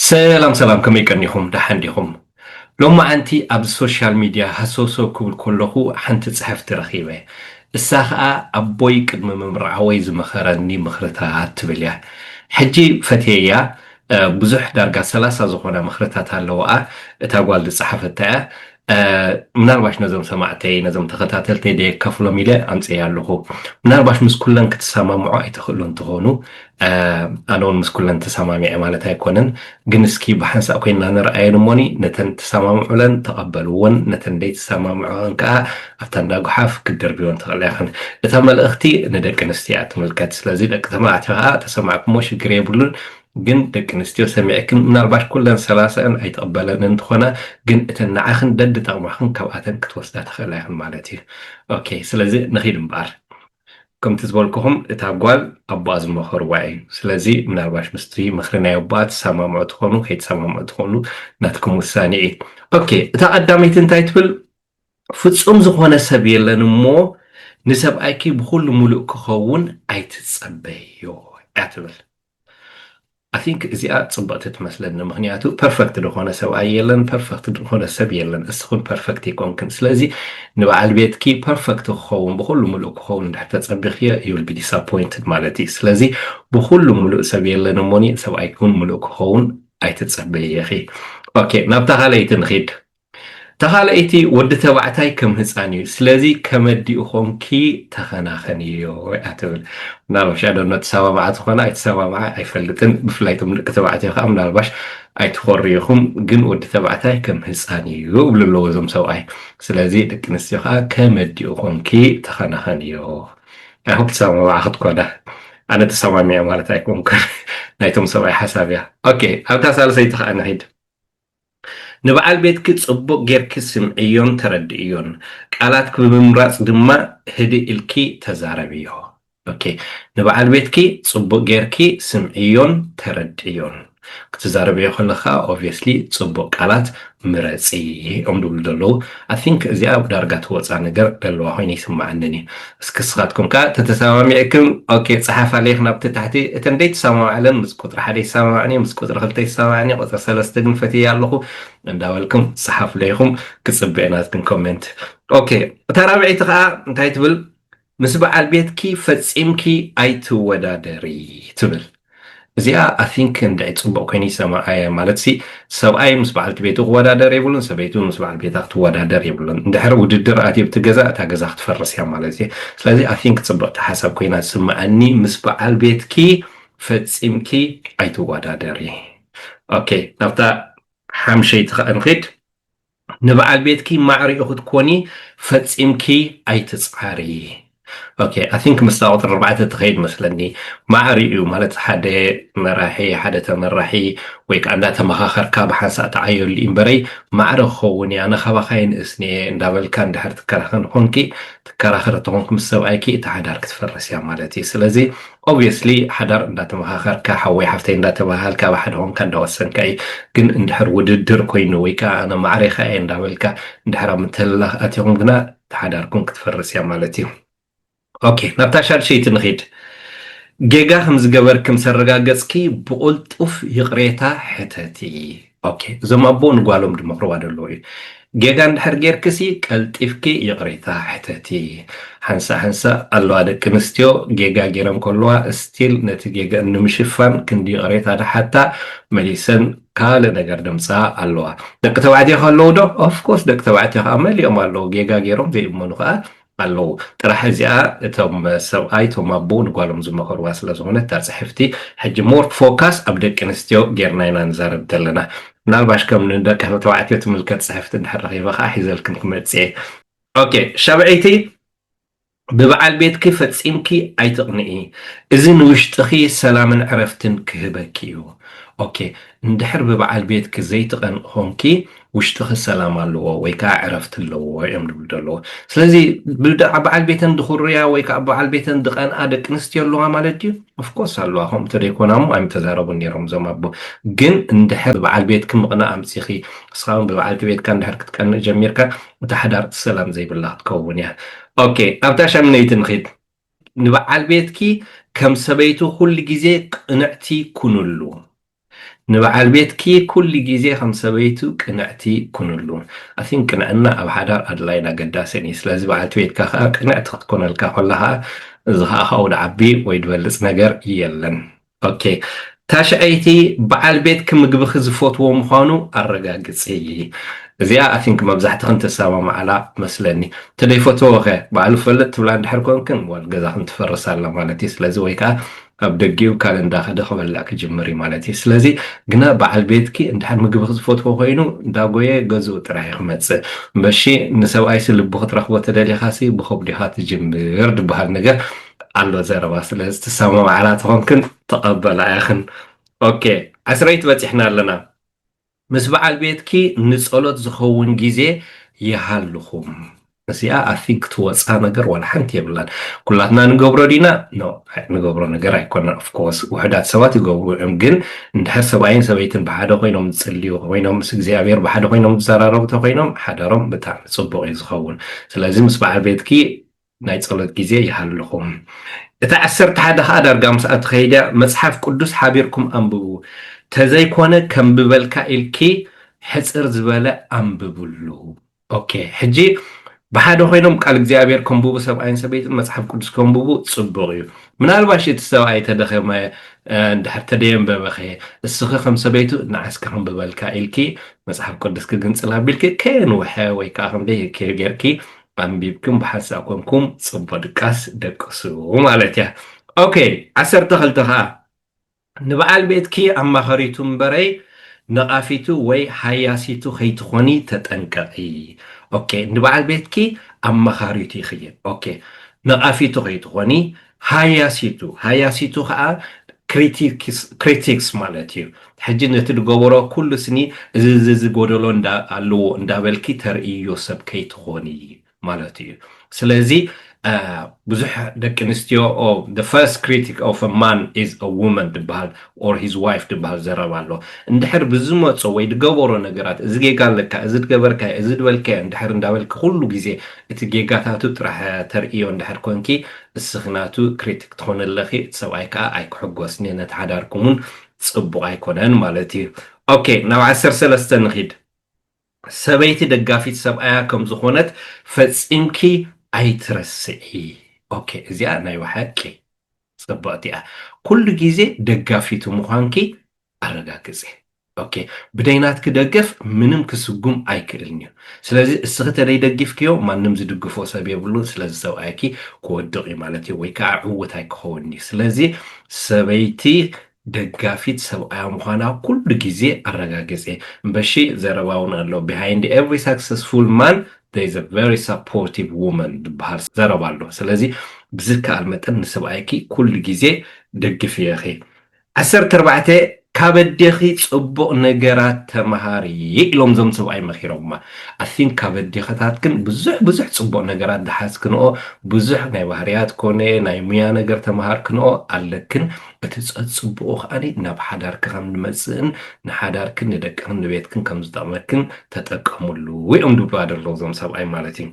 ሰላም ሰላም ከመይ ቀኒኹም ደሓን ዲኹም? ሎማዓንቲ ኣብ ሶሻል ሚድያ ሃሰውሰው ክብል ከለኹ ሓንቲ ፅሕፍቲ ረኺበ። እሳ ኸዓ ኣቦይ ቅድሚ ምምርዓወይ ዝመኸረኒ ምኽርታት ትብል እያ። ሕጂ ፈትየያ ብዙሕ ዳርጋ ሰላሳ ዝኾና ምኽርታት ኣለውኣ እታ ጓል ዝፀሓፈታ እያ። ምናልባሽ ነዞም ሰማዕተይ ነዞም ተኸታተልተይ ደየከፍሎም ኢለ ኣምፅኤያ ኣለኹ ምናልባሽ ምስ ኩለን ክትሰማምዑ ኣይትኽእሉን ትኾኑ ኣነ እውን ምስ ኩለን ተሰማሚዐ ማለት ኣይኮነን ግን እስኪ ብሓንሳእ ኮይና ንርኣየን እሞኒ ነተን ትሰማምዑለን ተቐበልዎን ነተን ደይትሰማምዑን ከዓ ኣብታ እንዳ ጉሓፍ ክትደርብዮን ትኽእላ ይኽን እታ መልእኽቲ ንደቂ ኣንስትዮ እያ ትምልከት ስለዚ ደቂ ተባዕትዮ ከዓ ተሰማዕኩሞ ሽግር የብሉን ግን ደቂ ኣንስትዮ ሰሚዕክን ምናልባሽ ኩለን ሰላሳኣን ኣይትቅበለን እንትኮና ግን እተን ንዓክን ደድጠቅማክን ካብኣተን ክትወስዳ ትክእላ ኢክን ማለት እዩ ኦኬ ስለዚ ንኪድ እምበኣር ከምቲ ዝበልኩኩም እታ ጓል ኣቦኣ ዝመከርዋ እዩ ስለዚ ምናልባሽ ምስቲ ምክሪ ናይ ኣቦኣ ትሰማምዑ ትኮኑ ከይትሰማምዑ ትክእሉ ናትኩም ውሳኔ እዩ ኦኬ እታ ቀዳመይቲ እንታይ ትብል ፍጹም ዝኮነ ሰብ የለን እሞ ንሰብኣይኪ ብኩሉ ሙሉእ ክከውን ኣይትጸበይዮ እያ ትብል I think እዚኣ ጽብቕቲ ትመስለኒ ምኽንያቱ ፐርፈክት ዝኾነ ሰብኣይ የለን ፐርፈክት ዝኾነ ሰብ የለን እስኽን ፐርፈክት ይኮንክን ስለዚ ንበዓል ቤትኪ ፐርፈክት ክኸውን ብኹሉ ምሉእ ክኸውን እንድሕር ተጸቢኽዮ ዩል ቢ ዲስኣፖይንትድ ማለት እዩ ስለዚ ብኹሉ ምሉእ ሰብ የለን እሞኒ ሰብኣይኪ እውን ምሉእ ክኸውን ኣይትጸበይኺ ኦኬ ናብታ ካልኣይቲ ንኺድ እታ ካልኣይቲ ወዲ ተባዕታይ ከም ህጻን እዩ ስለዚ ከመዲኡ ኮንኪ ተኸናኸንዮ እያ ትብል ምናልባሽ ኣደኖ ትሰማምዓ ትኾና ኣይትሰማምዓ ኣይፈልጥን ብፍላይ እቶም ደቂ ተባዕትዮ ከዓ ምናልባሽ ኣይትኾርዩኹም ግን ወዲ ተባዕታይ ከም ህፃን እዩ እብሉ ኣለዎ እዞም ሰብኣይ ስለዚ ደቂ ኣንስትዮ ከዓ ከመዲኡ ኮንኪ ተኸናኸንዮ ኣይሆፕ ትሰማምዓ ክትኮና ኣነ ተሰማሚዐ ማለት ኣይኮንኩን ናይቶም ሰብኣይ ሓሳብ እያ ኦኬ ኣብታ ሳልሰይቲ ከዓ ንሒድ ንበዓል ቤትኪ ጽቡቕ ጌርኪ ስምዕዮን ተረድእዮን፣ ቃላትኪ ብምምራጽ ድማ ህድእ ኢልኪ ተዛረብዮ። ok ንበዓል ቤትኪ ጽቡቕ ጌርኪ ስምዕዮን ተረድእዮን፣ ክትዛረብዮ ከለኺ ከኣ obviously ጽቡቕ ቃላት ምረጺ እዮም ዝብሉ ዘለዉ። I think እዚኣ ዳርጋ ትወጻ ነገር ደለዋ ኮይና ይስማዓንን እዩ እስኪ እስኻትኩም ከኣ ተተሳማሚዕክም ኦኬ ጽሓፋ ሌክ ናብቲ ታሕቲ እተን ደይትሳማማዕለን ምስ ቁጽሪ ሓደ ይሳማማዕን እየ ምስ ቁጽሪ ክልተ ይሳማማዕን እየ ቁጽሪ ሰለስተ ግን ፈትየያ ኣለኹ እንዳበልክም ጽሓፉለይ ኢኹም ክጽበ እየ ናትክም ኮሜንት ኦኬ እታ ራብዐይቲ ከኣ እንታይ ትብል ምስ በዓል ቤትኪ ፈጺምኪ ኣይትወዳደሪ ትብል እዚኣ ኣይ ቲንክ እንድዒ ጽቡቕ ኮይኑ ይሰማዓየ ማለትሲ ሰብኣይ ምስ በዓልቲ ቤቱ ክወዳደር የብሉን ሰበይቲ ውን ምስ በዓል ቤታ ክትወዳደር የብሉን እንድሕር ውድድር ኣትዩ ኣብቲ ገዛ እታ ገዛ ክትፈርስ እያ ማለት እዩ ስለዚ ኣይ ቲንክ ጽብቕቲ ሓሳብ ኮይና ትስምዓኒ ምስ በዓል ቤትኪ ፈጺምኪ ኣይትወዳደሪ ኦኬ ናብታ ሓምሸይቲ ከኣ ንኺድ ንበዓል ቤትኪ ማዕሪኡ ክትኮኒ ፈጺምኪ ኣይትጽዓሪ ኦኬ ኣይ ቲንክ ምስታ ቁጽሪ ኣርባዕተ ትኸይድ መስለኒ ማዕሪኡ ማለት ሓደ መራሒ ሓደ ተመራሒ ወይ ከዓ እንዳተመኻኸርካ ብሓንሳእ ትዓየሉ እዩ እምበረይ ማዕረ ክኸውን እያ ኣነ ካባኻ ይንእስኒ እየ እንዳበልካ እንድሕር ትከራኸን ኾንኪ ትከራኸር ተኾንኪ ምስ ሰብኣይኪ እቲ ሓዳር ክትፈርስ እያ ማለት እዩ ስለዚ Obviously ሓዳር እንዳተመኻኸርካ ሓወይ ሓፍተይ እንዳተባሃሃልካ ብ ሓደ ኮንካ እንዳወሰንካ እዩ ግን እንድሕር ውድድር ኮይኑ ወይ ከኣ ኣነ ማዕረ ከኣ እየ እንዳበልካ እንድሕር ኣብ ምትህልላኽ ኣቲኹም ግና እታ ሓዳርኩም ክትፈርስ እያ ማለት እዩ ኦኬ ናብታ ሻድሸይቲ ንኺድ ጌጋ ከም ዝገበርኪ ምስ ኣረጋገጽኪ ብቑልጡፍ ይቕሬታ ሕተቲ ኦኬ እዞም ኣቦ ንጓሎም ድመኽርዋ ደለዉ እዩ ጌጋ እንድሕር ጌርክሲ ቀልጢፍኪ ይቕሬታ ሕተቲ ሓንሳእ ሓንሳእ ኣለዋ ደቂ ኣንስትዮ ጌጋ ጌረን ከለዋ እስቲል ነቲ ጌገአን ንምሽፋን ክንዲ ይቕሬታ ድሓታ መሊሰን ካልእ ነገር ደምፅኣ ኣለዋ ደቂ ተባዕትዮ ከለዉ ዶ ኦፍኮርስ ደቂ ተባዕትዮ ከዓ መሊኦም ኣለዉ ጌጋ ጌሮም ዘይእመኑ ከዓ ኣለዉ ጥራሕ እዚኣ እቶም ሰብኣይ እቶም ኣቦ ንጓሎም ዝመኸርዋ ስለ ዝኾነት እታ ጽሕፍቲ ሕጂ ሞር ፎካስ ኣብ ደቂ ኣንስትዮ ጌርና ኢና ንዛረብ ዘለና ምናልባሽ ከም ንደቂ ተባዕትዮ ትምልከት ጽሕፍቲ እንድሕር ረኺበ ከኣ ሒዘልክን ክመጽእ እየ ኦኬ ሻብዐይቲ ብበዓል ቤትኪ ፈጺምኪ ኣይትቕንኢ እዚ ንውሽጥኺ ሰላምን ዕረፍትን ክህበኪ እዩ ኦኬ እንድሕር ብበዓል ቤትኪ ዘይትቐንኢ ኾንኪ ውሽጥኺ ሰላም ኣለዎ ወይ ከዓ ዕረፍቲ ኣለዎ እዮም ዝብሉ ዘለዉ ስለዚ በዓል ቤተን ድኹርያ ወይ ከዓ በዓል ቤተን ድቀንኣ ደቂ ኣንስትዮ ኣለዋ ማለት ድዩ ኦፍኮርስ ኣለዋ ከምኡ እንተደይኮና እሞ ኣይምተዛረቡን ነይሮም እዞም ኣቦ ግን እንድሕር በዓል ቤትኪ ምቕናእ ኣምፂኺ ንስኻ እውን ብበዓልቲ ቤትካ እንድሕር ክትቀንእ ጀሚርካ እታ ሓዳር ሰላም ዘይብላ ክትከውን እያ ኦኬ ኣብታ ሻምነይቲ ንኺድ ንበዓል ቤትኪ ከም ሰበይቲ ኩሉ ግዜ ቅንዕቲ ኩንሉ ንበዓል ቤትኪ ኩሉ ግዜ ከም ሰበይቱ ቅንዕቲ ኩንሉ። I think ቅንዕና ኣብ ሓዳር ኣድላይን ኣገዳስን እዩ። ስለዚ በዓልቲ ቤትካ ከኣ ቅንዕቲ ክትኮነልካ ኮላ ከኣ እዚ ከኣ ካብኡ ድዓቢ ወይ ድበልጽ ነገር የለን። Ok ታሽዐይቲ በዓል ቤትኪ ምግብኺ ዝፈትዎ ምዃኑ ኣረጋግጺ። እዚኣ I think መብዛሕትኽን ትሰማማዓላ መስለኒ። እንተደይፈተዎ'ኸ ባዕሉ ክፈልጥ ትብላ እንድሕር ኮንክን ዋል ገዛኽን ትፈርስ ኣላ ማለት እዩ። ስለዚ ወይ ከኣ ካብ ደጊኡ ካል እንዳከደ ክበልዕ ክጅምር እዩ ማለት እዩ ስለዚ ግና በዓል ቤትኪ እንድሕር ምግብኪ ዝፈትዎ ኮይኑ እንዳጎየ ገዝኡ ጥራይ እዩ ክመጽእ መሺ ንሰብኣይሲ ልቡ ክትረክቦ ተደሊካሲ ብከብዱ ኢካ ትጅምር ድበሃል ነገር ኣሎ ዘረባ ስለዚ ትሰማማዕላ ተኮንክን ተቀበላ ኢክን ኦኬ ዕስረይቲ በጺሕና ኣለና ምስ በዓል ቤትኪ ንጸሎት ዝኸውን ግዜ ይሃልኹም። እዚኣ ኣፊ ክትወጻ ነገር ዋላ ሓንቲ የብላን ኩላትና ንገብሮ ዲና no ንገብሮ ነገር ኣይኮነን of course ውሕዳት ሰባት ይገብሩ እዮም ግን እንድሕር ሰብኣይን ሰበይትን ብሓደ ኮይኖም ዝጽልዩ ኮይኖም ምስ እግዚኣብሔር ብሓደ ኮይኖም ዝዘራረቡ ተኮይኖም ሓዳሮም ብጣዕሚ ጽቡቅ እዩ ዝኸውን ስለዚ ምስ በዓል ቤትኪ ናይ ጸሎት ግዜ ይሃልኹም። እታ ዓሰርተ ሓደ ከኣ ዳርጋ ምስኣ ትኸይድ እያ፣ መጽሓፍ ቅዱስ ሓቢርኩም ኣንብቡ፣ ተዘይኮነ ከም ብበልካ ኢልኪ ሕጽር ዝበለ ኣንብብሉ። ኦኬ ሕጂ ብሓደ ኮይኖም ቃል እግዚኣብሔር ከንብቡ ሰብኣይን ሰበይትን መጽሓፍ ቅዱስ ከንብቡ ጽቡቕ እዩ። ምናልባሽ እቲ ሰብኣይ ተደኸመ እንድሕር ተደየንበበኸ እስኺ ከም ሰበይቱ ንዓስ ከንብበልካ ኢልኪ መጽሓፍ ቅዱስ ክግንጽል ኣቢልኪ ከየንውሐ ወይ ከዓ ከምደይ ጌርኪ ኣንቢብኩም ብሓንሳብ ኮንኩም ጽቡቅ ድቃስ ደቅሱ ማለት እያ ኦኬ ዓሰርተ ክልተ ከኣ ንበዓል ቤትኪ ኣማኸሪቱ እምበረይ ነቓፊቱ ወይ ሃያሲቱ ከይትኾኒ ተጠንቀቒ ኦኬ ንበዓል ቤትኪ ኣማኻሪቱ ይኽየን ኦኬ ነቓፊቱ ከይትኾኒ ሃያሲቱ፣ ሃያሲቱ ከኣ ክሪቲክስ፣ Critics፣ ማለት እዩ። ሕጂ ነቲ ዝገበሮ ኩሉ ስኒ እዚ እዚ እዚ ጎደሎ እንዳ ኣለዎ እንዳበልኪ ተርእይዮ ሰብ ከይትኾኒ ማለቱ እዩ። ስለዚ ብዙሕ ደቂ ኣንስትዮ፣ The first critic of a man is a woman ዝብሃል or his wife ድበሃል ዘረባ ኣሎ እንድሕር ብዝመጾ ወይ ድገበሮ ነገራት እዚ ጌጋ ኣለካ እዚ ድገበርካዮ እዚ ድበልካዮ እንድሕር እንዳበልኪ ኩሉ ግዜ እቲ ጌጋታቱ ጥራሕ ተርእዮ እንድሕር ኮንኪ እስኺ ናቱ critic ትኾኒ ኣለኺ እቲ ሰብኣይ ከኣ ኣይክሕጎስ ን ነቲ ሓዳርኩም ውን ጽቡቕ ኣይኮነን ማለት እዩ ok ናብ ዓሰርተ ሰለስተ ንኺድ። ሰበይቲ ደጋፊት ሰብኣያ ከም ዝኾነት ፈጺምኪ ኣይትረስዒ ኦኬ እዚኣ ናይ በሓቂ ጽብቕቲ እያ ኩሉ ግዜ ደጋፊቱ ምዃንኪ ኣረጋግጺ ኦኬ ብደይ ናትኪ ደገፍ ምንም ክስጉም ኣይክእልን እዩ ስለዚ እስኺ ተደይ ደጊፍክዮ ማንም ዝድግፎ ሰብ የብሉን ስለዚ ሰብኣይኪ ክወድቕ እዩ ማለት እዩ ወይ ከዓ ዕውት ኣይክኸውን እዩ ስለዚ ሰበይቲ ደጋፊት ሰብኣያ ምዃና ኩሉ ግዜ ኣረጋግጼ። እምበሺ ዘረባ ውን ኣሎ ቢሃይንድ ኤቭሪ ሳክሰስፉል ማን ዜር ኢዝ እ ቨሪ ሳፖርቲቭ ዉመን ዝብሃል ዘረባ ኣሎ ስለዚ ብዝከኣል መጠን ንስብኣይኪ ኩሉ ግዜ ደግፍየኺ። ዓሰርተ ኣርባዕተ ካብ ኣዴኺ ጽቡቕ ነገራት ተመሃሪ ኢሎም እዞም ሰብኣይ መኺሮማ ኣይ ቲንክ ካብ ኣዴኽታትክን ብዙሕ ብዙሕ ጽቡቕ ነገራት ዝሓዝክንኦ ብዙሕ ናይ ባህርያት ኮነ ናይ ሙያ ነገር ተመሃርክንኦ ኣለክን እቲ ጸጽቡቑ ከኣ ናብ ሓዳርኪ ከም ንመጽእን ንሓዳርክን ንደቅኽን ንቤትክን ከም ዝጠቕመክን ተጠቀምሉ እዮም ድብሉዋ ደለዉ እዞም ሰብኣይ ማለት እዩ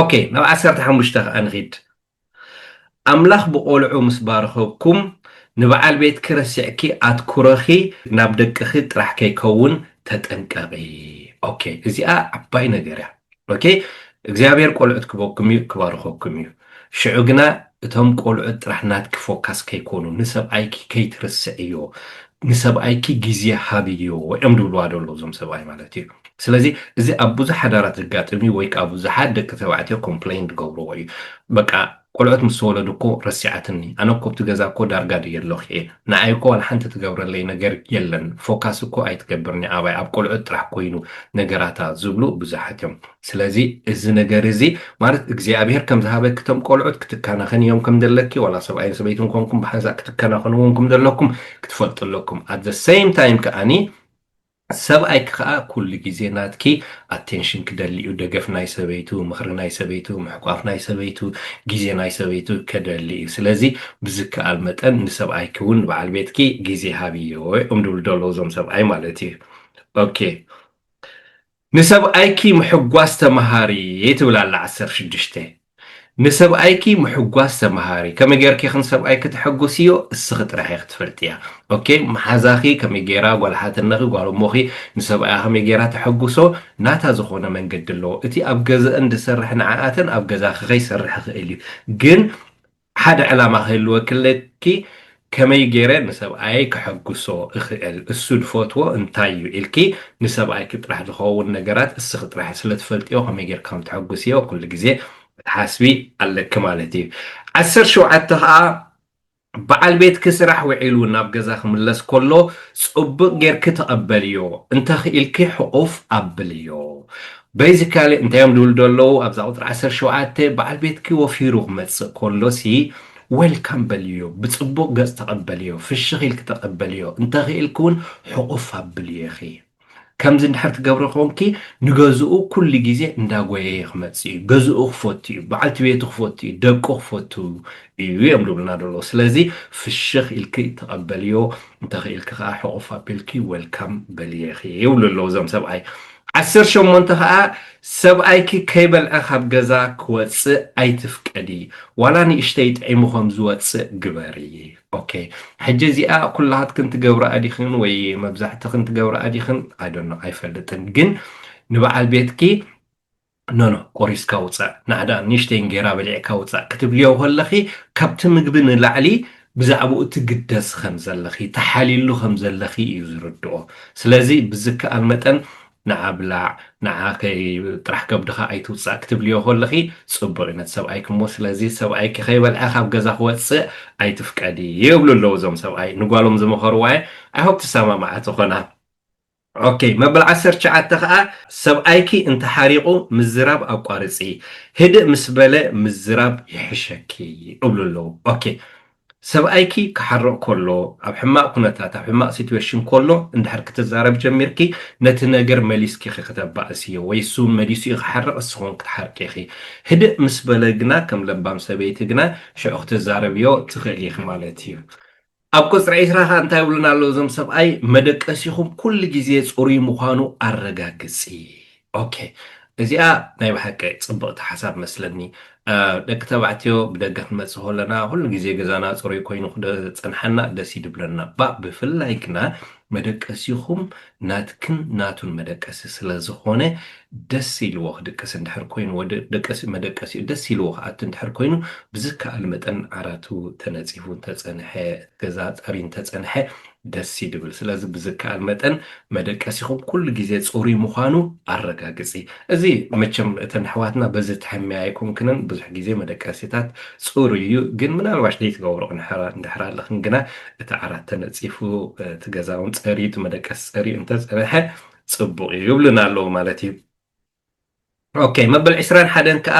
ኦኬ ናብ ዓሰርተ ሓሙሽተ ከኣ ንኺድ ኣምላኽ ብቖልዑ ምስ ባረኸኩም ንበዓል ቤትኪ ረሲዕኪ ኣትኩሮኺ ናብ ደቅኺ ጥራሕ ከይከውን ተጠንቀቒ ኦኬ እዚኣ ዓባይ ነገር እያ። ኦኬ እግዚኣብሔር ቆልዑት ክበኩም እዩ ክባርኸኩም እዩ ሽዑ ግና እቶም ቆልዑት ጥራሕ ናትኪ ፎካስ ከይኮኑ ንሰብኣይኪ ከይትርስዕዮ ንሰብኣይኪ ግዜ ሃብዮ እዮም ድብልዋ ደሎ እዞም ሰብኣይ ማለት እዩ ስለዚ እዚ ኣብ ብዙሕ ሓዳራት ዘጋጥም እዩ ወይ ከዓ ብዙሓት ደቂ ተባዕትዮ ኮምፕሌን ዝገብርዎ እዩ በቃ ቆልዑት ምስ ተወለዱ እኮ ረሲዓትኒ ኣነ እኮ ኣብቲ ገዛ እኮ ዳርጋ ድየ ኣለኩ ኢየ ንዓይ እኮ ዋላ ሓንቲ ትገብረለይ ነገር የለን ፎካስ እኮ ኣይትገብር ኒኣባይ ኣብ ቆልዑት ጥራሕ ኮይኑ ነገራታ ዝብሉ ብዙሓት እዮም ስለዚ እዚ ነገር እዚ ማለት እግዚኣብሄር ከም ዝሃበኪ እቶም ቆልዑት ክትካናኸንዮም ከም ዘለኪ ዋላ ሰብኣይን ሰበይትን ኮንኩም ብሓንሳእ ክትከናኸንዎም ከም ዘለኩም ክትፈልጡ ኣለኩም ኣት ዘ ሰይም ታይም ከኣኒ ሰብኣይኪ ከኣ ኩሉ ግዜ ናትኪ ኣቴንሽን ክደሊ እዩ፣ ደገፍ ናይ ሰበይቱ፣ ምኽሪ ናይ ሰበይቱ፣ ምሕቋፍ ናይ ሰበይቱ፣ ግዜ ናይ ሰበይቱ ከደሊ እዩ። ስለዚ ብዝከኣል መጠን ንሰብኣይኪ እውን ንበዓል ቤትኪ ግዜ ሃብዮ እዮም ዝብሉ ዘለዉ እዞም ሰብኣይ ማለት እዩ። ኦኬ ንሰብኣይኪ ምሕጓስ ተመሃሪ ትብል ኣላ ዓሰርተ ሽዱሽተ። ንሰብኣይኪ ምሕጓስ ተማሃሪ ከመይ ጌርኪ ክን ሰብኣይኪ ተሐጉስዮ እስኺ ጥራሕ ኢኺ ትፈልጥያ ok መሓዛኺ ከመይ ጌራ ጓል ሓትነኺ ጓል እሞኺ ንሰብኣያ ከመይ ጌራ ተሐጉሶ ናታ ዝኾነ መንገዲ ኣለዎ እቲ ኣብ ገዘእን ድሰርሕ ንዓኣተን ኣብ ገዛኺ ከይሰርሕ ይኽእል እዩ ግን ሓደ ዕላማ ክህልወኪ ኣለኪ፣ ከመይ ገይረ ንሰብኣየይ ከሐጕሶ እኽእል፣ እሱ ዝፈትዎ እንታይ እዩ ኢልኪ ንሰብኣይኪ ጥራሕ ዝኸውን ነገራት እስኺ ጥራሕ ስለ ትፈልጥዮ ከመይ ገይርኪ ከም ተሐጕስዮ ኩሉ ግዜ ክትሓስቢ ኣለኪ ማለት እዩ። ዓሰርተ ሸውዓተ ከኣ በዓል ቤትኪ ስራሕ ውዒሉ ናብ ገዛ ክምለስ ከሎ ጽቡቕ ገይርኪ ተቐበልዮ፣ እንተ ክኢልኪ ሕቑፍ ኣብልዮ። Basically እንታይ እዮም ዝብሉ ዘለዉ ኣብዛ ቁጽሪ ዓሰርተ ሸውዓተ በዓል ቤትኪ ወፊሩ ክመጽእ ከሎ ሲ Welcome በልዮ ብጽቡቅ ገጽ ተቀበልዮ ፍሽኽ ኢልኪ ተቀበልዮ እንተ ክኢልኪ ውን ሕቁፍ ኣብልዮ ኢኺ ከምዚ እንድሕር ትገብሪ ኮንኪ ንገዝኡ ኩሉ ግዜ እንዳ ጎየየ ክመጽእ እዩ ገዝኡ ክፈቱ እዩ በዓልቲ ቤቱ ክፈቱ እዩ ደቁ ክፈቱ እዩ እዮም ዝብሉና ዘለዉ ስለዚ ፍሽኽ ኢልኪ ተቀበልዮ እንተ ክኢልኪ ከኣ ሕቁፍ ኣቢልኪ Welcome በልዮ ኢኺ ይብሉ ኣለዉ እዞም ሰብኣይ ዓሰርተ ሸሞንተ ከኣ ሰብኣይኪ ከይበልዐ ካብ ገዛ ክወጽእ ኣይትፍቀዲ ዋላ ንእሽተይ ጥዒሙ ከም ዝወጽእ ግበሪ ok ሕጂ እዚኣ ኩላትክን ትገብርኣ ዲክን ወይ መብዛሕትክን ትገብርኣ ዲክን i don't know ኣይፈልጥን ግን ንበዓል ቤትኪ ኖኖ ቆሪስካ ውጻእ ናህዳ ንእሽተይን ጌራ በሊዕካ ውጻእ ክትብልዮ ከለኺ ካብቲ ምግቢ ንላዕሊ ብዛዕብኡ ትግደሲ ከምዘለኺ ትሓልይሉ ከምዘለኺ እዩ ዝርድኦ ስለዚ ብዝከኣል መጠን ንዓ ብላዕ ንዓ ከይ ጥራሕ ከብድኻ ኣይትውጻእ ክትብልዮ ከለኺ ጽቡቕ እዩ ነቲ ሰብኣይኪ እሞ ስለዚ ሰብኣይኪ ከይበልዐ ካብ ገዛ ክወጽእ ኣይትፍቀዲ ይብሉ ኣለዉ እዞም ሰብኣይ ንጓሎም ዝመኸርዋ እየ i hope ትሰማማዓ ትኾና ኦኬ መበል ዓሰርተ ትሽዓተ ከኣ ሰብኣይኪ እንተ ሓሪቁ ምዝራብ ኣቋርጺ ህድእ ምስ በለ ምዝራብ ይሕሸኪ እብሉ ኣለዉ ኦኬ ሰብኣይኪ ክሓርቅ ኮሎ ኣብ ሕማቅ ኩነታት ኣብ ሕማቅ ሲትዌሽን ኮሎ እንድሕር ክትዛረብ ጀሚርኪ ነቲ ነገር መሊስኪ ኢኪ ክተባእስዮ ወይ እሱ ውን መሊሱ እዩ ክሓርቅ ንስኪ ውን ክትሓርቂ ኢኪ ህድእ ምስ በለ ግና ከም ለባም ሰበይቲ ግና ሽዑ ክትዛረብዮ ትክእሊ ኢኪ ማለት እዩ ኣብ ቁጽሪ ዕስራ ከኣ እንታይ ይብሉና ኣለዉ እዞም ሰብኣይ መደቀሲኹም ኩሉ ግዜ ጽሩይ ምዃኑ ኣረጋግጺ ok እዚኣ ናይ ብሓቂ ጽብቕቲ ሓሳብ መስለኒ ደቂ ተባዕትዮ ብደገ ክንመጽእ ከለና ኩሉ ግዜ ገዛና ጽሩይ ኮይኑ ክጸንሓና ደስ ይድብለና እባ ብፍላይ ግና መደቀሲኹም ናትክን ናቱን መደቀሲ ስለ ዝኾነ ደስ ኢልዎ ክድቅስ እንድሕር ኮይኑ ወዲ ደቀሲ መደቀሲኡ ደስ ኢልዎ ክኣቱ እንድሕር ኮይኑ ብዝከኣል መጠን ዓራቱ ተነጺፉ እንተጸንሐ እቲ ገዛ ጸርዩ እንተጸንሐ ደስ ይድብል ስለዚ ብዝከኣል መጠን መደቀሲኹም ኩሉ ግዜ ጽሩይ ምዃኑ ኣረጋግጺ እዚ መቸም እተን ኣሕዋትና በዚ ትሕመያ ኣይኮንክንን ብዙሕ ግዜ መደቀሲታት ጽሩይ እዩ ግን ምናልባሽ ዘይትገብርኦ እንድሕር ኣለኽን ግና እቲ ዓራት ተነፂፉ እቲ ገዛውን ፀርዩ እቲ መደቀሲ ፀርዩ እንተፀነሐ ፅቡቕ እዩ ይብሉና ኣለዉ ማለት እዩ ኦኬ መበል ዕስራን ሓደን ከዓ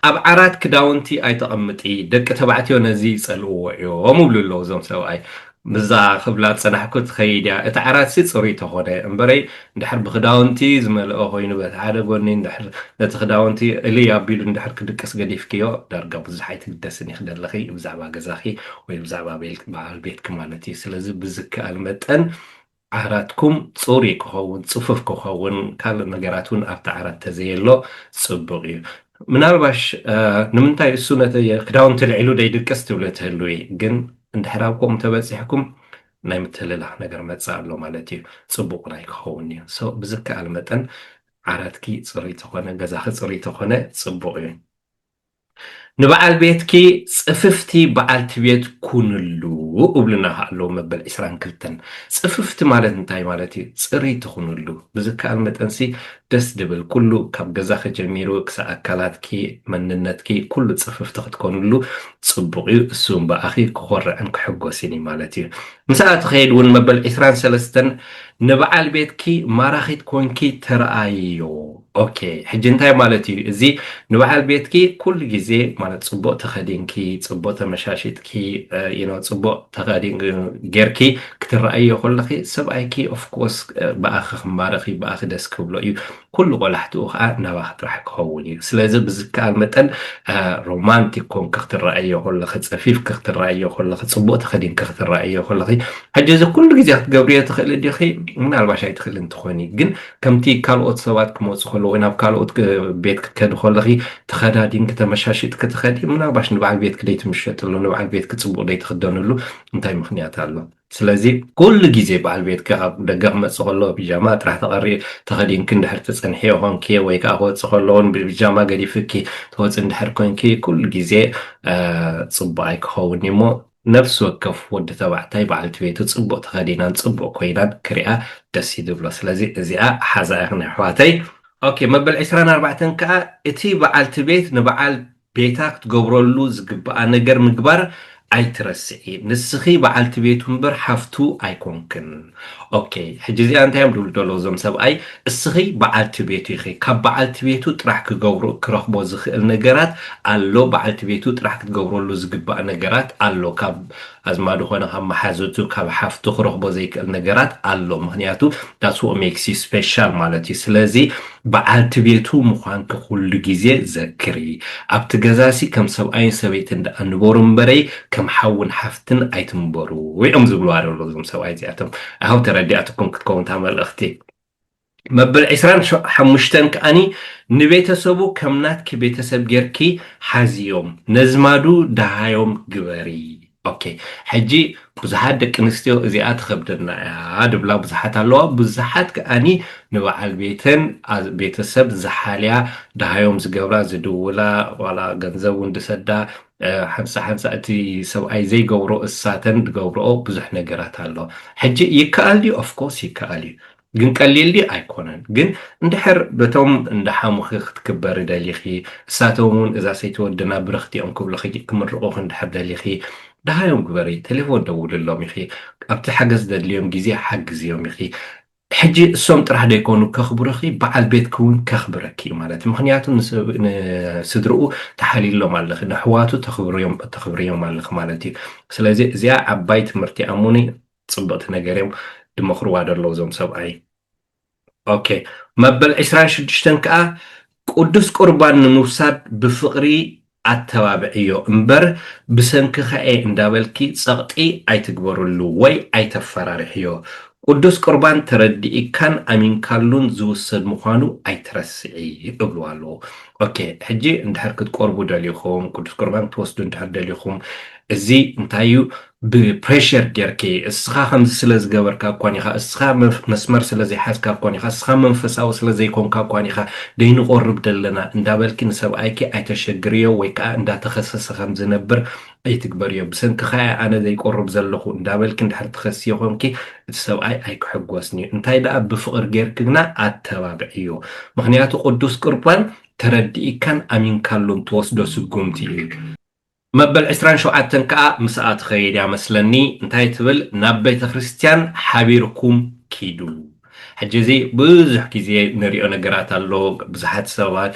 ኣብ ዓራት ክዳውንቲ ኣይተቐምጢ ደቂ ተባዕትዮ ነዚ ይፀልእዎ እዮም ይብሉ ኣለዉ እዞም ሰብኣይ ምዛ ክብላ ፀናሕኩ ትኸይድ እያ እቲ ዓራትሲ ፅሩይ ተኾነ እምበረይ እንድሕር ብክዳውንቲ ዝመልኦ ኮይኑ በቲ ሓደ ጎኒ እንድሕር ነቲ ክዳውንቲ እልይ ኣቢሉ እንድሕር ክድቅስ ገዲፍክዮ ዳርጋ ብዙሕ ኣይትግደስን ይኽደለኺ ብዛዕባ ገዛኺ ወይ ብዛዕባ በዓል ቤትኪ ማለት እዩ። ስለዚ ብዝከኣል መጠን ዓራትኩም ጽሩይ ክኸውን፣ ጽፉፍ ክኸውን፣ ካልእ ነገራት እውን ኣብቲ ዓራት ተዘየሎ ጽቡቕ እዩ። ምናልባሽ ንምንታይ እሱ ነቲ ክዳውንቲ ልዒሉ ደይድቅስ ትብሊ ትህልዊ፣ ግን እንድሕር ኣብ ከምኡ ተበጺሕኩም ናይ ምትልላኽ ነገር መጸ ኣሎ ማለት እዩ፣ ጽቡቕ እውን ኣይክኸውን እዩ። ሶ ብዝከኣል መጠን ዓራትኪ ጽሩይ ተኾነ፣ ገዛኺ ጽሩይ ተኾነ ጽቡቕ እዩ። ንበዓል ቤትኪ ጽፍፍቲ በዓልቲ ቤት ኩንሉ እብሉና ከኣ ኣለዉ መበል ዕስራን ክልተን። ጽፍፍቲ ማለት እንታይ ማለት እዩ? ጽርይቲ ኩንሉ። ብዝከኣል መጠንሲ ደስ ድብል ኩሉ ካብ ገዛኺ ጀሚሩ ክሳዕ ኣካላትኪ፣ መንነትኪ ኩሉ ጽፍፍቲ ክትኮንሉ ጽቡቕ እዩ። እሱ እውን ብኣኺ ክኾርዕን ክሕጎስን እዩ ማለት እዩ። ምስኣ ትኸይድ እውን መበል ዕስራን ሰለስተን ንበዓል ቤትኪ ማራኺት ኮንኪ ተርኣይዮ። ኦኬ ሕጂ እንታይ ማለት እዩ እዚ ንበዓል ቤትኪ ኩሉ ግዜ ማለት ጽቡቅ ተኸዲንኪ ጽቡቅ ተመሻሺጥኪ ዩኖ ጽቡቅ ተኸዲንኪ ጌርኪ ክትረኣዮ ከለኺ ሰብኣይኪ ኦፍኮርስ ብኣኺ ክማረኽ እዩ ብኣኺ ደስ ክብሎ እዩ ኩሉ ቆላሕትኡ ከዓ ናባኺ ጥራሕ ክኸውን እዩ ስለዚ ብዝከኣል መጠን ሮማንቲክ ኮንኪ ክትረኣዮ ከለኺ ጸፊፍኪ ክትረኣዮ ከለኺ ጽቡቅ ተኸዲንኪ ክትረኣዮ ከለኺ ሕጂ እዚ ኩሉ ግዜ ክትገብርዮ ትኽእሊ ዲኺ ምናልባሽ ኣይትኽእልን ትኾኒ ግን ከምቲ ካልኦት ሰባት ክመጹ ከለዉ ወይ ናብ ካልኦት ቤት ክትከዲ ከለኺ ተኸዳዲንኪ ተመሻሺጥኪ ትኸዲ ምናልባሽ ንበዓል ቤትኪ ደይትምሸጥሉ ንበዓል ቤትኪ ጽቡቕ ደይትኽደንሉ እንታይ ምኽንያት ኣሎ ስለዚ ኩሉ ግዜ በዓል ቤትኪ ካብ ደገ ክመጽእ ከሎ ቢጃማ ጥራሕ ተቐሪ ተኸዲንኪ እንድሕር ትጸንሕዮ ኮንኪ ወይ ከኣ ክወጽእ ከሎ ውን ብቢጃማ ገዲፍኪ ትወጽ እንድሕር ኮንኪ ኩሉ ግዜ ጽቡቕ ኣይክኸውን'ዩ እሞ ነፍሲ ወከፍ ወዲ ተባዕታይ በዓልቲ ቤቱ ጽቡቅ ተከዲናን ጽቡቅ ኮይናን ክሪኣ ደስ እዩ ዝብሎ ስለዚ እዚኣ ሓዛ ኢክን ኣሕዋተይ። ኦኬ መበል ዕስራን ኣርባዕተን ከኣ እቲ በዓልቲ ቤት ንበዓል ቤታ ክትገብረሉ ዝግብኣ ነገር ምግባር ኣይትረስዒ ንስኪ በዓልቲ ቤቱ እምበር ሓፍቱ ኣይኮንክን። ኦኬ ሕጂ እዚኣ እንታይ እዮም ድብሉ ደለዉ እዞም ሰብኣይ እስኺ በዓልቲ ቤቱ ኢኺ ካብ በዓልቲ ቤቱ ጥራሕ ክገብሮ ክረኽቦ ዝኽእል ነገራት ኣሎ በዓልቲ ቤቱ ጥራሕ ክትገብረሉ ዝግባእ ነገራት ኣሎ ካብ ኣዝማዱ ኮነ ካብ መሓዘቱ ካብ ሓፍቱ ክረኽቦ ዘይክእል ነገራት ኣሎ ምክንያቱ ዳትስ ዋት ሜክስ ዩ ስፔሻል ማለት እዩ ስለዚ በዓልቲ ቤቱ ምዃንኪ ኩሉ ግዜ ዘክሪ ኣብቲ ገዛሲ ከም ሰብኣይን ሰበይትን ደኣ ንበሩ እምበረይ ከም ሓውን ሓፍትን ግን ኣይትንበሩ እዮም ዝብልዋ ዘሎ እዞም ሰብኣይ እዚኣቶም ኣይሆብ ተረዲኣትኩም ክትከውን እታ መልእኽቲ መበል 25 ከዓኒ ንቤተሰቡ ከም ናትኪ ቤተሰብ ጌርኪ ሓዝዮም ነዝማዱ ደሃዮም ግበሪ ኦኬ ሕጂ ብዙሓት ደቂ ኣንስትዮ እዚኣ ትኸብደና እያ ድብላ ብዙሓት ኣለዋ ብዙሓት ከዓኒ ንበዓል ቤተን ቤተሰብ ዝሓልያ ደሃዮም ዝገብራ ዝድውላ ዋላ ገንዘብ እውን ድሰዳ ሓንሳ ሓንሳ እቲ ሰብኣይ ዘይገብሮ እሳተን ድገብርኦ ብዙሕ ነገራት ኣሎ ሕጂ ይከኣል ድዩ ኦፍኮርስ ይከኣል እዩ ግን ቀሊል ድዩ ኣይኮነን ግን እንድሕር በቶም እንዳ ሓሙኺ ክትክበሪ ደሊኺ እሳቶም እውን እዛ ሰይቲ ወድና ብርኽቲ እዮም ክብልኺ ክምርቑኺ እንድሕር ደሊኺ ደሃዮም ግበሪ ቴሌፎን ደውልሎም ኢኺ ኣብቲ ሓገዝ ዘድልዮም ግዜ ሓግዝዮም ኢኺ ሕጂ እሶም ጥራሕ ደይኮኑ ከኽብሩኺ በዓል ቤትኪ ውን ከኽብረኪ ዩ ማለት ዩ ምኽንያቱ ንስድርኡ ተሓሊሎም ኣለኺ ነሕዋቱ ተኽብርዮም ኣለኺ ማለት ዩ ስለዚ እዚኣ ዓባይ ትምህርቲ እያ እሙኒ ጽብቅቲ ነገር ዮም ድመኽርዋ ደለዉ እዞም ሰብኣይ ኦኬ መበል ዕስራን ሽዱሽተን ከኣ ቅዱስ ቍርባን ንምውሳድ ብፍቕሪ ኣተባብዕዮ እምበር፣ ብሰንክኻ'የ እንዳበልኪ ጸቕጢ ኣይትግበርሉ ወይ ኣይተፈራርሕዮ። ቅዱስ ቍርባን ተረዲእካን ኣሚንካሉን ዝውሰድ ምዃኑ ኣይትረስዒ እብልዋ ኣለኹ። ኦኬ፣ ሕጂ እንድሕር ክትቈርቡ ደሊኹም፣ ቅዱስ ቍርባን ክትወስዱ እንድሕር ደሊኹም፣ እዚ እንታይ'ዩ? ብ Pressure ጌርኪ እስኻ ከምዚ ስለ ዝገበርካ እኳን ኢኻ እስኻ መስመር ስለ ዘይሓዝካ እኳን ኢኻ እስኻ መንፈሳዊ ስለ ዘይኮንካ እኳን ኢኻ ደይንቆርብ ደለና እንዳበልኪ ንሰብኣይኪ ኣይተሸግርዮ ወይ ከኣ እንዳተኸሰሰ ከም ዝነብር ኣይትግበርዮ ብሰንክኻ እየ ኣነ ዘይቆርብ ዘለኹ እንዳበልኪ እንድሕር ትኸስዮ ኮንኪ እቲ ሰብኣይ ኣይክሕጎስንዩ እንታይ ደኣ ብፍቕር ጌርኪ ግና ኣተባብዕዮ ምኽንያቱ ቅዱስ ቁርባን ተረዲኢካን ኣሚንካሉን ትወስዶ ስጉምቲ እዩ። መበል ዕስራን ሸውዓተን ከኣ ምስኣ ትኸይድ እያ መስለኒ እንታይ ትብል ናብ ቤተክርስትያን ሓቢርኩም ኪዱ ሕጂ እዚ ብዙሕ ግዜ ንሪኦ ነገራት ኣሎ ብዙሓት ሰባት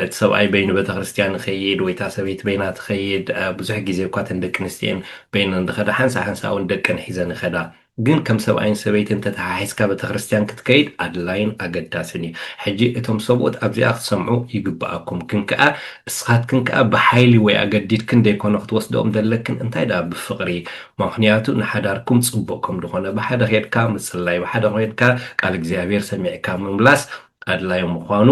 እቲ ሰብኣይ በይኑ ቤተክርስትያን ይኸይድ ወይ እታ ሰበይቲ በይና ትኸይድ ብዙሕ ግዜ እኳ እተን ደቂ ኣንስትዮ እየን በይነን ዝኸዳ ሓንሳእ ሓንሳእ እውን ደቀን ሒዘን ይኸዳ ግን ከም ሰብኣይን ሰበይትን ተተሓሒዝካ ቤተክርስትያን ክትከይድ ኣድላይን ኣገዳስን እዩ። ሕጂ እቶም ሰብኡት ኣብዚኣ ክትሰምዑ ይግብኣኩም። ግን ከኣ እስኻትክን ከኣ ብሓይሊ ወይ ኣገዲድክን ደይኮነ ክትወስድኦም ዘለክን እንታይ ደኣ ብፍቕሪ። ማክንያቱ ንሓዳርኩም ጽቡቕ ከምድኾነ ብሓደ ኬድካ ምጽላይ ብሓደ ኬድካ ቃል እግዚኣብሔር ሰሚዕካ ምምላስ ኣድላዩ ምዃኑ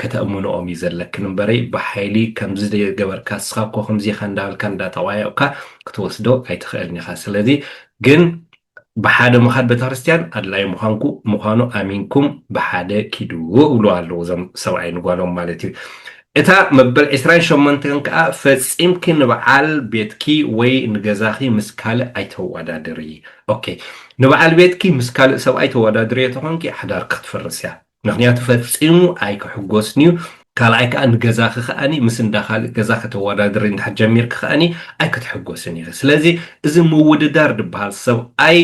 ከተእምንኦም እዩ ዘለክን እምበረይ ብሓይሊ ከምዚ ገበርካ እስኻ እኮ ከምዚ ኢኻ እንዳበልካ እንዳጠቋየቕካ ክትወስዶ ኣይትኽእልን ኢኻ ስለዚ ግን ብሓደ ምኻድ ቤተክርስትያን ኣድላዩ ምዃንኩ ምዃኑ ኣሚንኩም ብሓደ ኪዱ እብሉ ኣለዉ እዞም ሰብኣይ ንጓሎም ማለት እዩ እታ መበል ዕስራን ሸሞንተን ከኣ ፈጺምኪ ንብዓል ቤትኪ ወይ ንገዛኺ ምስ ካልእ ኣይተዋዳድሪ ok ንብዓል ቤትኪ ምስ ካልእ ሰብኣይ ተዋዳድርዮ ተኾንኪ ሓዳርኪ ክትፍርስያ ምኽንያቱ ፈጺሙ ኣይክሕጎስንዩ ካልኣይ ከኣ ንገዛኺ ከኣ ምስ እንዳ ካልእ ገዛ ከተዋዳድሪ እንድሕር ጀሚርኪ ከኣ ኣይክትሕጎስን ኢኺ ስለዚ እዚ ምውድዳር ድብሃል ሰብኣይ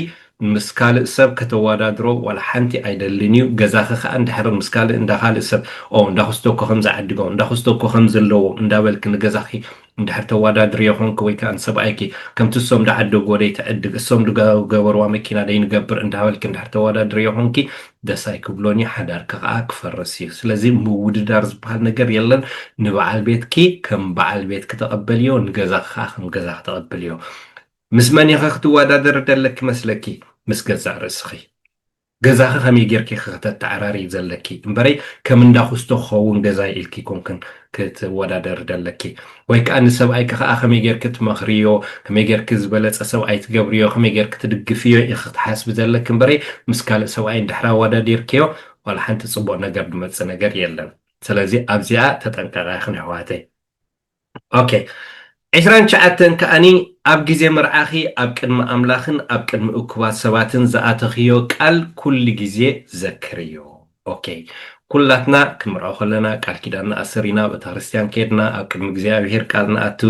ምስ ካልእ ሰብ ከተዋዳድሮ ዋላ ሓንቲ ኣይደልን እዩ ገዛኺ ከኣ እንድሕር ምስ ካልእ እንዳ ካልእ ሰብ ኦ እንዳ ኩስቶ እኮ ከምዚ ዓዲጎ እንዳ ኩስቶ እኮ ከምዚ ኣለዎ እንዳበልኪ ንገዛኺ እንድሕር ተዋዳድርዮ ኮንኪ ወይ ከኣ ንሰብኣይኪ ከምቲ እሶም ድዓደጉዎ ደይ ትዕድግ እሶም ድገበርዋ መኪና ደይ ንገብር እንዳበልኪ እንድሕር ተዋዳድርዮ ኮንኪ ደስ ኣይክብሎን እዩ ሓዳርኪ ከኣ ክፈርስ እዩ ስለዚ ምውድዳር ዝበሃል ነገር የለን ንበዓል ቤትኪ ከም በዓል ቤትኪ ተቐበልዮ ንገዛኺ ከኣ ከም ገዛኺ ተቐበልዮ ምስ መን ኢኺ ክትወዳደሪ ደለኪ መስለኪ ምስ ገዛእ ርእስኺ ገዛኺ ከመይ ጌርኪ ኢኺ ከተተዓራርዪ ዘለኪ እምበረይ ከም እንዳ ኩስቶ ክኸውን ገዛይ ኢልኪ ኣይኮንክን ክትወዳደሪ ደለኪ ወይ ከኣ ንሰብኣይኪ ከኣ ከመይ ጌርኪ ትመኽርዮ ከመይ ጌርኪ ዝበለጸ ሰብኣይ ትገብርዮ ከመይ ጌርኪ ትድግፍዮ ኢኺ ክትሓስቢ ዘለኪ እምበረይ ምስ ካልእ ሰብኣይ እንድሕር ኣወዳዲርክዮ ዋላ ሓንቲ ጽቡቕ ነገር ድመጽእ ነገር የለን ስለዚ ኣብዚኣ ተጠንቀቓ ኢኽን ኣሕዋተይ። ኦኬ ዕስራን ትሽዓተን ከኣኒ ኣብ ግዜ መርዓኺ ኣብ ቅድሚ ኣምላኽን ኣብ ቅድሚ እኩባት ሰባትን ዝኣተኽዮ ቃል ኩሉ ግዜ ዘክርዮ ኦኬ ኩላትና ክንምርዖ ከለና ቃል ኪዳንና ኣሰሪና ኣብ እታክርስትያን ከድና ኣብ ቅድሚ እግዚኣብሄር ቃል ንኣቱ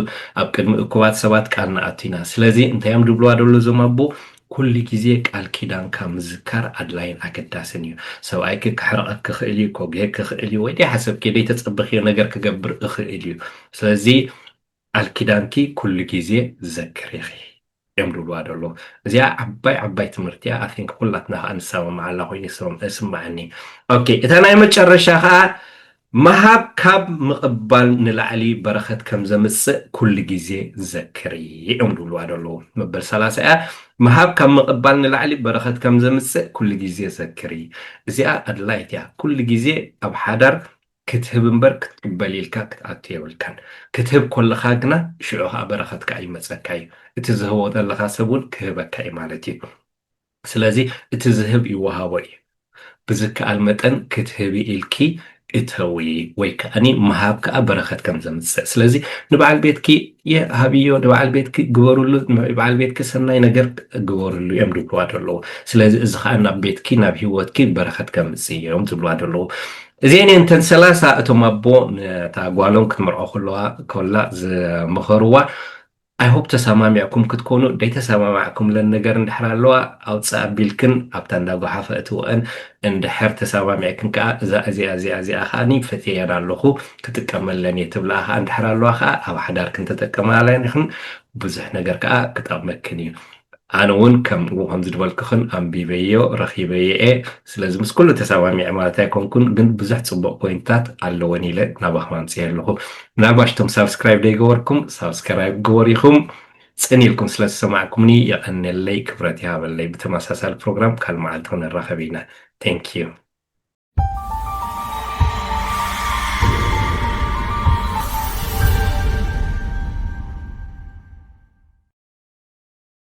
ኣብ ቅድሚ እኩባት ሰባት ቃል ንኣቱ ኢና ስለዚ እንታዮም ድብልዋ ደሎ እዞም ኣቦ ኩሉ ግዜ ቃል ኪዳንካ ምዝካር ኣድላይን ኣገዳስን እዩ። ሰብኣይኪ ክሕርቐኪ ይኽእል እዩ፣ ኮጌ ክኽእል እዩ፣ ወይ ደይሓሰብክዮ ደይተጸበኽዮ ነገር ክገብር እኽእል እዩ። ስለዚ ቃል ኪዳንኪ ኩሉ ግዜ ዘክሪ ኢኺ። እዮም ድብልዋ ደለዉ እዚኣ ዓባይ ዓባይ ትምህርቲ እያ ኣይ ቲንክ ኩላትና ከዓ ንሰማማዓላ ኮይኑ ይስማዓኒ ኦኬ እታ ናይ መጨረሻ ከዓ ምሃብ ካብ ምቕባል ንላዕሊ በረኸት ከም ዘምጽእ ኩሉ ግዜ ዘክሪ እዮም ዝብልዋ ዘለዉ። መበል ሰላሳ እያ። ምሃብ ካብ ምቕባል ንላዕሊ በረኸት ከም ዘምጽእ ኩሉ ግዜ ዘክሪ። እዚኣ ኣድላይት እያ። ኩሉ ግዜ ኣብ ሓዳር ክትህብ እምበር ክትቅበል ኢልካ ክትኣቱ የብልካን። ክትህብ ኮለኻ ግና ሽዑ ኸኣ በረኸት ከኣ ይመጸካ እዩ። እቲ ዝህቦ ዘለኻ ሰብ እውን ክህበካ እዩ ማለት እዩ። ስለዚ እቲ ዝህብ ይወሃቦ እዩ ብዝከኣል መጠን ክትህቢ ኢልኪ እተዊ ወይ ከኣኒ ምሃብ ከኣ በረከት ከም ዘምጽእ ስለዚ ንበዓል ቤትኪ የ ሃብዮ ንበዓል ቤትኪ ግበርሉ ንበዓል ቤትኪ ሰናይ ነገር ግበርሉ እዮም ዝብልዋ ዘለዉ ስለዚ እዚ ከኣ ናብ ቤትኪ ናብ ሂወትኪ በረከት ከምጽእ እዮም ዝብልዋ ዘለዉ እዚኤን እየን እተን ሰላሳ እቶም ኣቦ ነታ ጓሎም ክትምርዖ ከለዋ ኮላ ዝመኸርዋ I hope ተሳማሚዕኩም ክትኮኑ ደይተሳማማዕኩምለን ነገር እንድሕር ኣለዋ ኣውጽእ ኣቢልክን ኣብታ እንዳ ጎሓፈ እትወኣን እንድሕር ተሳማሚዕክን ከኣ እዛ እዚኣ እዚኣ እዚኣ ከኣ ፈትየየን ኣለኹ ክጥቀመለን እየ ትብልኣ ከኣ እንድሕር ኣለዋ ከኣ ኣብ ሓዳርክን ተጠቀማለን ኢኽን ብዙሕ ነገር ከኣ ክጠቕመክን እዩ ኣነ ውን ከምኡ ከም ዝድበልክኽን ኣንቢበዮ ረኺበዮ'የ ስለዚ ምስ ኩሉ ተሳማሚዐ ማለት ኣይኮንኩን ግን ብዙሕ ጽቡቕ ፖይንትታት ኣለወን ኢለ ናባኹም ኣምጺኤ ኣለኹ ምናልባሽ እቶም ሳብስክራይብ ደይገበርኩም ሳብስከራይብ ግበሩ ኢኹም ጽን ኢልኩም ስለ ዝሰማዕኩምኒ የቐንየለይ ክብረት ይሃበለይ ብተመሳሳሊ ፕሮግራም ካልእ መዓልቲ ክንራኸብ ኢና thank you